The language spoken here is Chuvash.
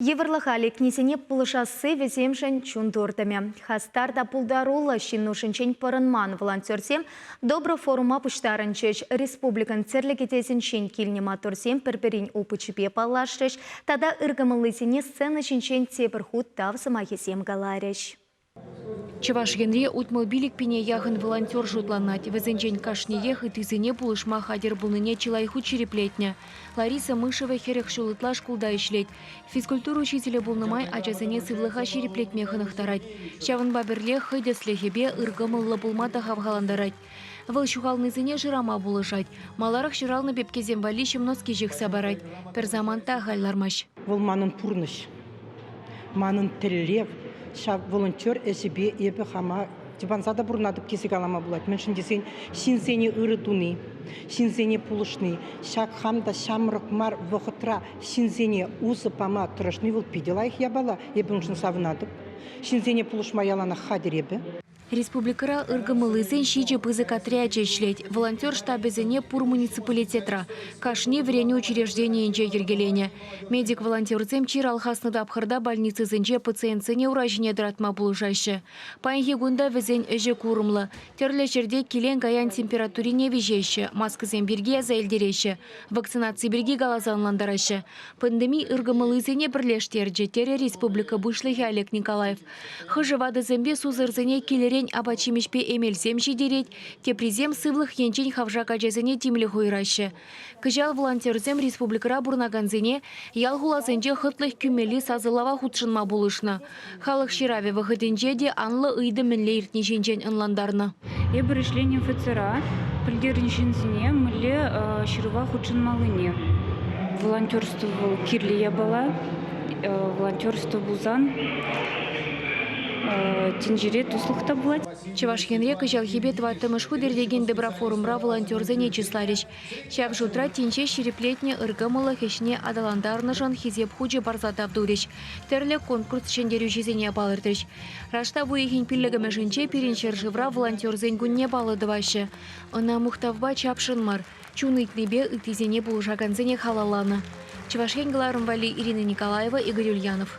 Йывӑрлӑха лекнисене пулӑшасси вӗсемшӗн чун туртӑмӗ. Хастар та пултаруллӑ ҫын нушинчен пӑрӑнман волонтерсем добро форума пуҫтарӑнчӗҫ, республикӑн тӗрлӗ кӗтесӗнчен килнӗ маттурсем пӗр-пӗрин опычӗпе паллашрӗҫ тата ыркӑмӑллисене сцена ҫинчен тепӗр хут тав сӑмахӗсем каларӗҫ. Чӑваш Енре утмӑлпилӗк пине яхӑн волонтер шутланать. Вӗсенчен кашниех ыттисене пулӑшма хатӗр пулнине чылай хут ҫирӗплетнӗ. Лариса Мышева хӗрӗх ҫул ытла шкулта ӗҫлет. Физкультура учителӗ пулнӑ май ачасене сывлӑха ҫирӗплетме хӑнӑхтарать. Ҫавӑнпа пӗрлех хӑй тӗслӗхӗпе ыркӑмӑллӑ пулма та хавхалантарать. Вӑл ҫухалнисене шырама пулӑшать. Маларах ҫуралнӑ пепкесем валли ҫӑмноски ҫыхса парать. Пӗр саманта ахаль лармасть. Вӑл манӑн пурнӑҫ, манӑн тӗллев. Ҫав волонтер ӗҫӗпе эпӗ хама тӑванса та пурӑнатӑп тесе калама пулать. Мӗншӗн тесен ҫынсене ырӑ туни, ҫынсене пулӑшни, ҫак хам та ҫамрӑк мар вӑхӑтра ҫынсене усӑ пама тӑрӑшни вӑл питӗ лайӑх япала. Эпӗ уншӑн савӑнатӑп. Ҫынсене пулӑшма яланах хатӗр эпӗ. Республикӑра ыркӑмӑллисен ҫичӗ пысӑк отрячӗ ӗҫлет. Волонтер штабӗсене пур муниципалитетра, кашни вӗренӳ учрежденийӗнче йӗркеленӗ. Медик-волонтерсем чир алхаснӑ тапхӑрта больницӑсенче пациентсене ура ҫине тӑратма пулӑшаҫҫӗ. Паянхи кун та вӗсен ӗҫӗ курӑмлӑ. Тӗрлӗ ҫӗрте килен-каян температурине виҫеҫҫӗ, маскӑсем пирки аса илтереҫҫӗ, вакцинаци пирки каласа ӑнлантараҫҫӗ. Пандеми ыркӑмӑллисене пӗрлештерчӗ, терӗ республика Пуҫлӑхӗ Олег Николаев. Хӑшӗ ватӑсемпе сусӑрсене килӗрен апат-ҫимӗҫпе эмелсем ҫитерет, теприсем сывлӑх енчен хавшак ачасене тимлӗх уйӑраҫҫӗ. Кӑҫал волонтерсем республикӑра пурӑнакансене ял-хуласенче хӑтлӑх кӳмелли сасӑлава хутшӑнма пулӑшнӑ. Халӑх ҫыравӗ вӑхӑтӗнче те анлӑ ыйту мӗнле иртни ҫинчен ӑнлантарнӑ. Эпир ӗҫленӗ офицера пӗлтернӗ ҫынсене мӗнле ҫырӑва хутшӑнмаллине. Волонтерство вӑл кирлӗ япала. Волонтерство пулсан тӗнчере туслӑх та пулать. Чӑваш Енре кӑҫалхипе тӑваттӑмӗш хут иртекен Доброфорумра волонтерсене чысларӗҫ. Ҫав шутра тӗнче ҫирӗплетнӗ ыркӑмӑллӑх ӗҫне аталантарнӑшӑн Хисеп хучӗ парса тав турӗҫ, тӗрлӗ конкурс ҫӗнтерӳҫисене палӑртрӗҫ. Раштав уйӑхӗн пиллӗкӗмӗшӗнче пирӗн ҫӗршывра волонтерсен кунне паллӑ тӑваҫҫӗ. Ӑна мухтавпа чапшӑн мар, чун ыйтнипе ыттисене пулӑшакансене халалланӑ. Чӑваш Ен кӑларӑм валли Ирина Николаева, Игорь Ульянов.